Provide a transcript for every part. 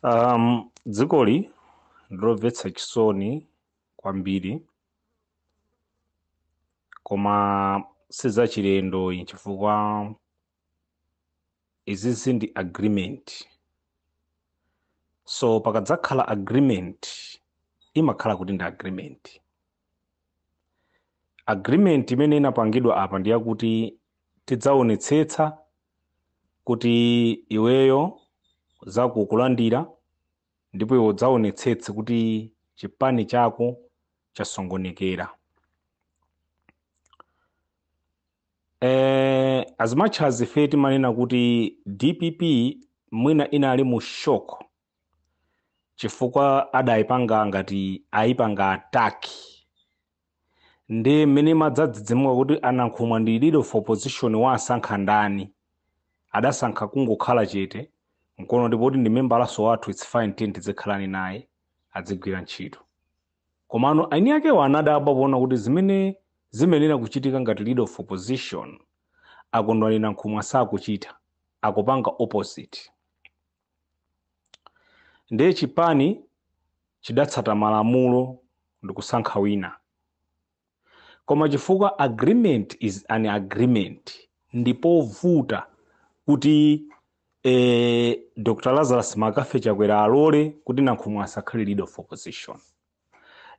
Um, dzikoli ndilomvetsa chisoni kwambiri koma sizachilendo ayi chifukwa izizi ndi agreement so pakadzakhala agreement imakhala kuti ndi agreement agreement imene inapangidwa apa ndi yakuti tidzaonetsetsa kuti iweyo zako ukulandira ndipo iwe udzaonetsetse kuti chipani chako chasongonekera eh, as much as ife timanena kuti dpp mwina inali mu shock chifukwa adaipanga ngati aipanga attack ndiye mmene imadzadzidzimuka kuti a Nankhumwa ndi leader of opposition waasankha ndani adasankha kungokhala chete nkono kuti poti ndi membalaso wathu its fine tiyeni tidzikhalani naye adzigwira ntchito komano aini akewo anadabwa poona kuti zimene zimayenera kuchitika ngati leader of opposition a Kondwani Nankhumwa sakuchita akupanga opposite ndiye chipani chidatsata malamulo ndikusankha wina koma chifukwa agreement is an agreement ndipovuta kuti eh, dr lazarus mccarthy chakwera alole kuti nankhumwa asakhale leader of opposition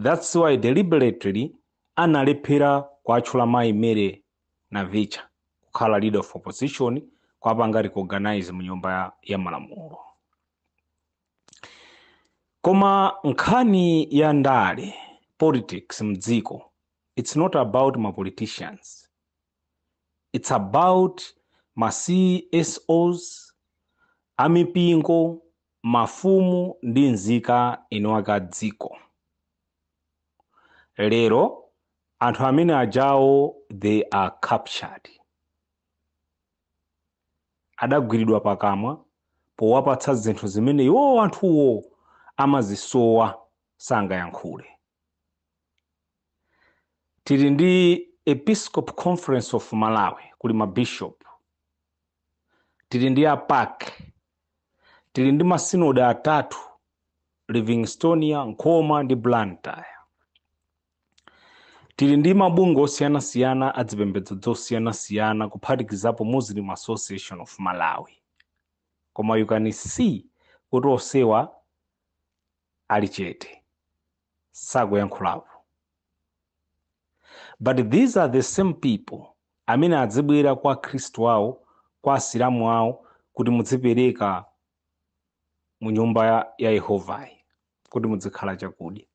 that's why deliberately analephera kuatchula mayi mary Navicha kukhala leader of opposition kuwapanga recognize mu nyumba ya, ya malamulo koma nkhani ya ndale politics mdziko it's not about ma politicians it's about ma csos amipingo mafumu ndi nzika eni aka dziko lero anthu amene ajawo they are captured adagwiridwa pakamwa powapatsa zinthu zimene iwowo anthuwo amazisowa sangayankhule tili ndi episcopal conference of malawi kuli mabishop tili ndi a pac tili ndi masinodi atatu livingstonia nkhoma ndi blantyre tili ndi mabungwe osiyanasiyana a zipembedzo zosiyanasiyana kuphatikizapo muslim association of malawi koma you can see kuti onsewa ali chete sakuyankhulapo but these are the same people amene adzibwera kwa akhristu awo kwa asilamu awo kuti mudzipereka mu nyumba ya, ya yehovayi kuti mudzikhala chakudya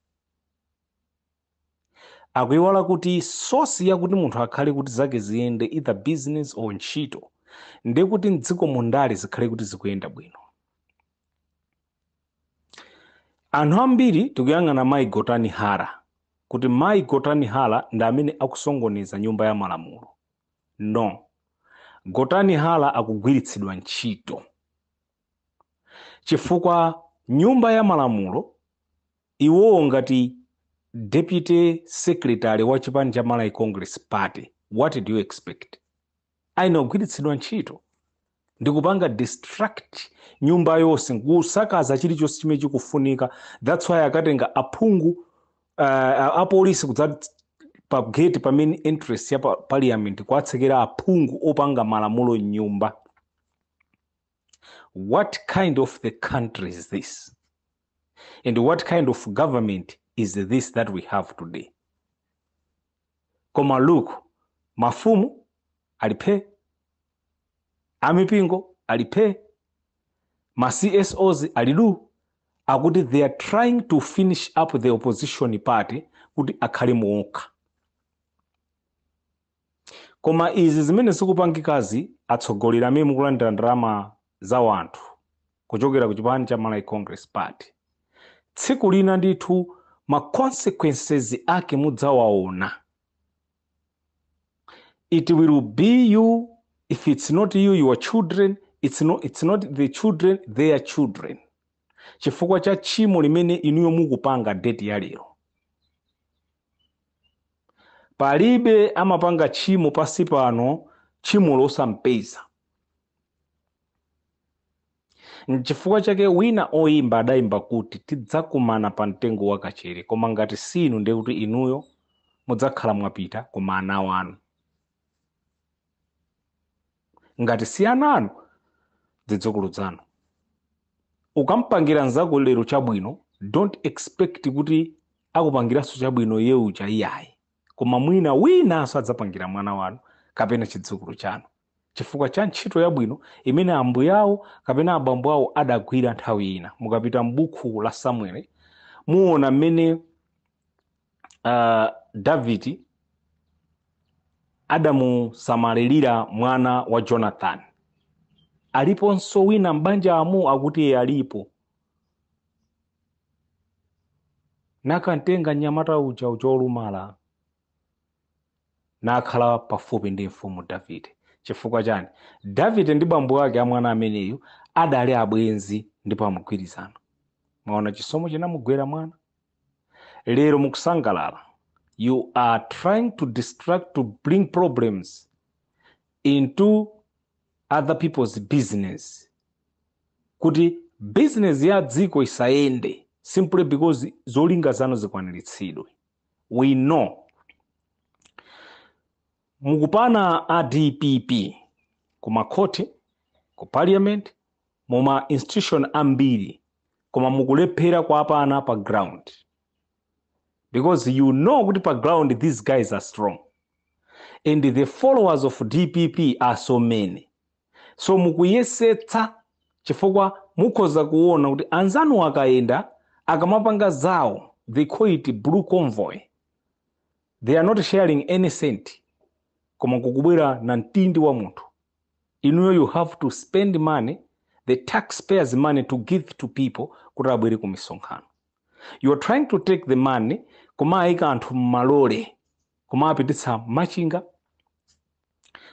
akuiwala kuti source yakuti munthu akhale kuti zake ziyende either business or ntchito ndi kuti mdziko mundale zikhale kuti zikuyenda bwino anthu ambiri tikuyang'ana mayi gotani hara kuti mayi gotani hara ndi amene akusongoneza nyumba ya malamulo no gotani hara akugwiritsidwa ntchito chifukwa nyumba ya malamulo iwowo ngati deputy secretary wa chipani cha malawi congress party what do you expect ayenera kugwiritsidwa ntchito ndi kupanga distract nyumba yonse nkusakaza chilichonse chimene chikufunika that's why akatenga aphungu uh, apolisi kudza pa gate pa main entrance ya pa parliament kuwatsekera aphungu opanga malamulo mnyumba what kind of the country is this and what kind of government is this that we have today Koma look, mafumu ali phe, amipingo ali phe, ma CSOs ali du akuti they are trying to finish up the opposition party kuti akhale muokha. Koma izi zimene zikupangikazi atsogoleri amene mukulandira ndalama za wanthu kuchokera ku chipani cha Malawi Congress Party. Tsiku lina ndithu ma consequences ake mudzawaona. It will be you if it's not you your children it's not, it's not the children their children chifukwa cha tchimo limene inuyo mukupanga date ya lero palibe amapanga tchimo pansi pano tchimo losampeza N'chifukwa chake wina oyimba adayimba kuti tidzakumana pa mtengo wa kachere koma ngati si inu ndiye kuti inuyo mudzakhala mwapita koma ana wanu. Ngati si ana anu zidzukulu zanu. Ukampangira nzako lero chabwino don't expect kuti akupangiranso chabwino iye uja iyayi koma mwina winanso adzapangira mwana wanu kapena chidzukulu chanu. chifukwa cha ntchito yabwino imene ambuye awo kapena abambo awo adagwira nthawi ina. Mukapita m'buku la Samueli muona mmene uh, Davidi adamusamalirira mwana wa Jonathan. Aliponso wina m'banjamo akuti eee alipo nakantenga mnyamata uja uja olumala nakhala pafupi ndi mfumu Davide. Chifukwa chani? Davide ndi bambo ake a mwana ameneyu adali abwenzi ndipo amgwirizano. Mwaona chisomo chinamugwera mwana? Lero mukusangalala. You are trying to distract to bring problems into other people's business. Kuti business ya dziko isayende simply because zolinga zanu zikwaniritsidwe. we know mukupana a dpp ku makhoti ku parliament mu ma institution ambiri koma mukulephera kuwapana pa ground because you know kuti pa ground these guys are strong and the followers of dpp are so many so mukuyesetsa chifukwa mukhoza kuona kuti anzanu akayenda akamapanga zawo they call it blue convoy they are not sharing any cent koma kukubwera namtindi wa anthu inuyo you have to spend money the taxpayers money to give to people kuti abwere ku misonkhano you are trying to take the money koma ayika anthu mmalole koma apititsa machinga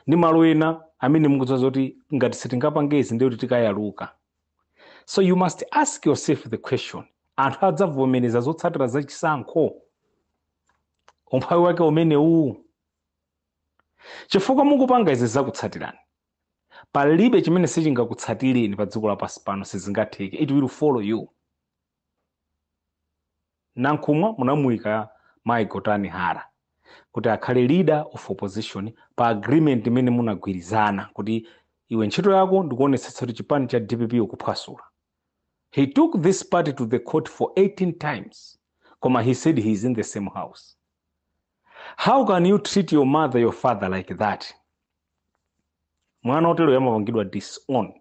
ndi malo ena amene mukudziwa zoti ngati sitingapange izi ndiye kuti tikayaluka so you must ask yourself the question anthu adzavomereza zotsatira za chisankho umphawi wake umenewuwu chifukwa mukupanga izi zikutsatirani palibe chimene sichingakutsatireni pa dziko lapansi pano sizingatheke it will follow you Nankhumwa munamuika Mai Gotani Hara kuti akhale leader of opposition pa agreement imene munagwirizana kuti iwe ntchito yako ndikuonetsetsa kuti chipani cha dpp ukuchiphwasula. He took this party to the court for 18 times koma he said he is in the same house. How can you treat your mother, your father like that? mwana woteroyo amapangidwa disown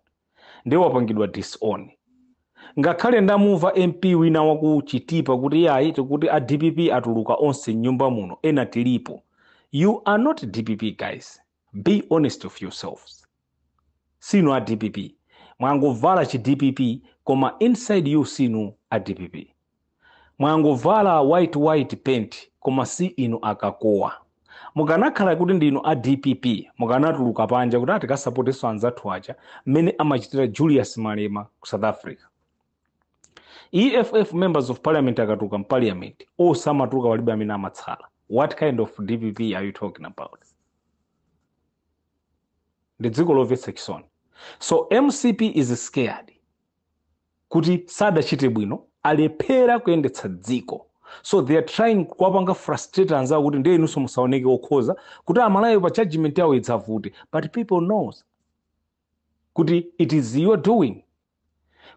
ndiye wapangidwa disown ngakhale ndamumva mp wina wakuchitipa kuti iyayi akuti a dpp atuluka onse mnyumba muno ena tilipo you are not dpp guys be honest of yourselves si inu a dpp mwangovala chi dpp koma inside you si inu a dpp Mwangovala white white paint koma si inu akakowa. Mukanakhala kuti ndinu a dpp mukanatuluka panja kuti ah tikasapotenso anzathu aja mmene amachitira Julius Malema ku South Africa. EFF members of parliament akatuluka mu parliament onse amatuluka palibe amene amatsala. What kind of dpp are you talking about? Ndi dziko lomvetsa chisoni. So mcp is scared. kuti sadachite bwino alephera kuyendetsa dziko so they are trying kuwapanga frustrate anzawo kuti ndiye inunso musaoneke okhoza kuti amalawi pa judgment yawo idzavute but people knows kuti it is your doing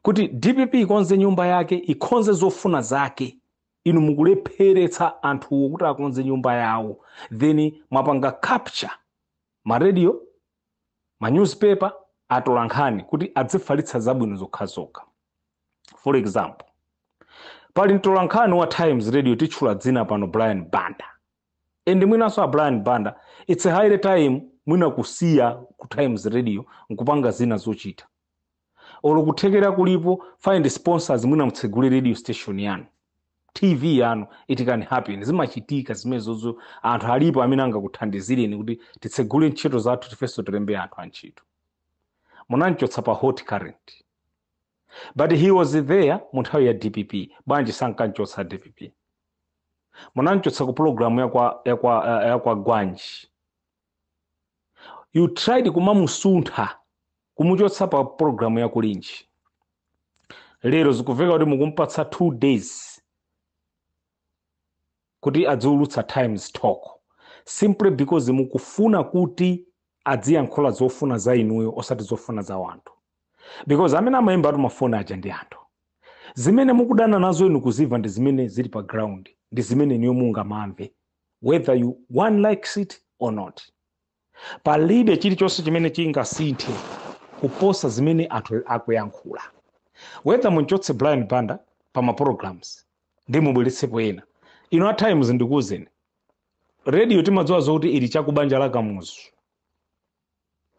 kuti dpp ikonze nyumba yake ikonze zofuna zake inu mukulepheretsa anthuwo kuti akonze nyumba yawo then mwapanga capture maradio ma newspaper atolankhani kuti adzifalitsa zabwino zokhazokha for example pali mtolankhani wa times radio titchula dzina pano brian banda and mwinanso a brian banda its a high time mwina kusiya ku times radio nkupanga zina zochita olo kuthekera kulipo find sponsors mwina mutsegule radio station yanu tv yanu it can happen zimachitika zimenezozo anthu alipo amene angakuthandizireni kuti titsegule ntchito zathu tifenso tilembe anthu antchito munamchotsa pa hot current but he was there mu nthawi ya dpp bwanji sankamchotsa dpp munamchotsa ku pulogalamu ya kwagwanji you tried kumamusuntha kumuchotsa pa pulogalamu ya kulinji lero zikumveka kuti mukumpatsa two days kuti adziwulutsa times talk simply because mukufuna kuti adziyankhula zofuna za inuyo osati zofuna za wanthu because amene amayimbatu mafoni aja ndi anthu zimene mukudana nazo inu kuzimva ndi zimene zili pa ground ndi zimene inuyo mungamamve whether you one likes it or not palibe chilichonse chimene chingasinthe kuposa zimene anthu akuyankhula whether munchotse brian banda pa ma programs ndi mubweretsepo ena inu a times ndikuwuzeni radio timadziwa zokuti ili cha kubanja la kamuzu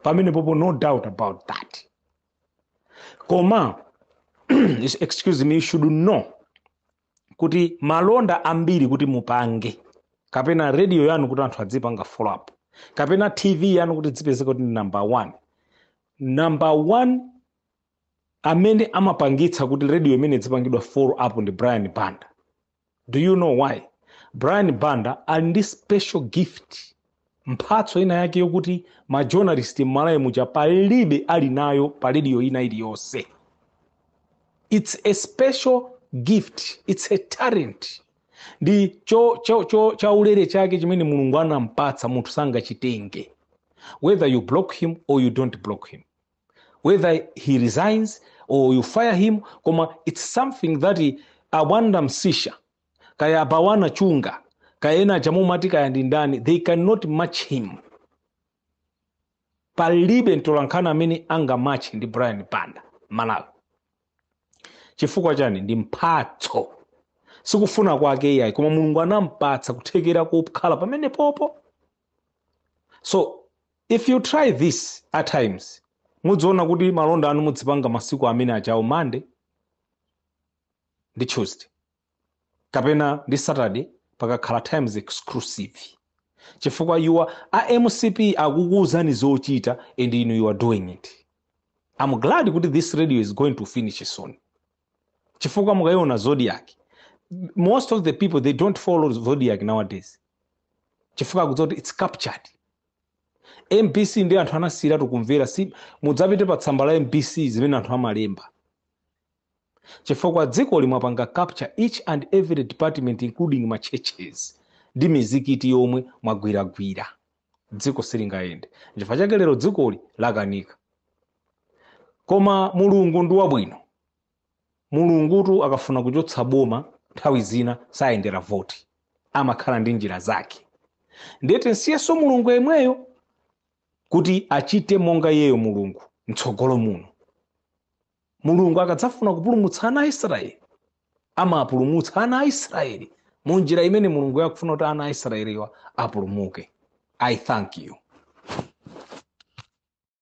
pamenepopo no doubt about that koma excuse me you should know kuti malonda ambiri kuti mupange kapena radio yanu kuti anthu adzipanga follow up kapena tv yanu kuti idzipezeka kuti ndi number one number one amene amapangitsa kuti radio imene idzipangidwa follow up ndi brian banda do you know why brian banda ali ndi special gift mphatso ina yake yokuti ma journalist mmalawi muja palibe ali nayo pa radio ina iliyonse its a special gift its a talent ndi chaulere chake chimene mulungu anampatsa munthu sangachitenge whether you block him or you don't block him whether he resigns or you fire him koma its something that a banda msisha kaya abawana chunga kaya ena aja mumati kaya ndi ndani they cannot match him palibe mtolankhani amene angamatche ndi brian banda malawi chifukwa chani ndi mphatso sikufuna kwake iyayi koma mulungu anampatsa kuthekera kokhala pamenepopo so if you try this at times mudziona kuti malonda anu mudzipanga masiku amene awo a monday ndi tuesday kapena ndi saturday pakakhala times exclusive chifukwa iwo a mcp akukuuzani zochita and inu you are doing it i'm glad kuti this radio is going to finish soon chifukwa mukayiona zodiac most of the people they don't follow zodiac nowadays chifukwa akudziwa kuti its captured mbc nde anthu anasiyiratu kumvera si mudzapite pa tsamba la mbc zimene anthu amalemba chifukwa dzikoli mwapanga capture each and every department including ma churches ndi mizikiti yomwe mwagwiragwira dziko silingayende nchifukwa chake lero dzikoli lakanika koma mulungu ndi wabwino mulungutu akafuna kuchotsa boma nthawi zina sayendera voti amakhala ndi njira zake ndiye tinsiyenso mulungu yemweyo kuti achite monga iyeyo mulungu mtsogolo muno Mulungu akadzafuna kupulumutsa ana a Israeli, amapulumutsa ana a Israeli mu njira imene Mulungu akufuna kuti ana a Israeliwa apulumuke. I thank you.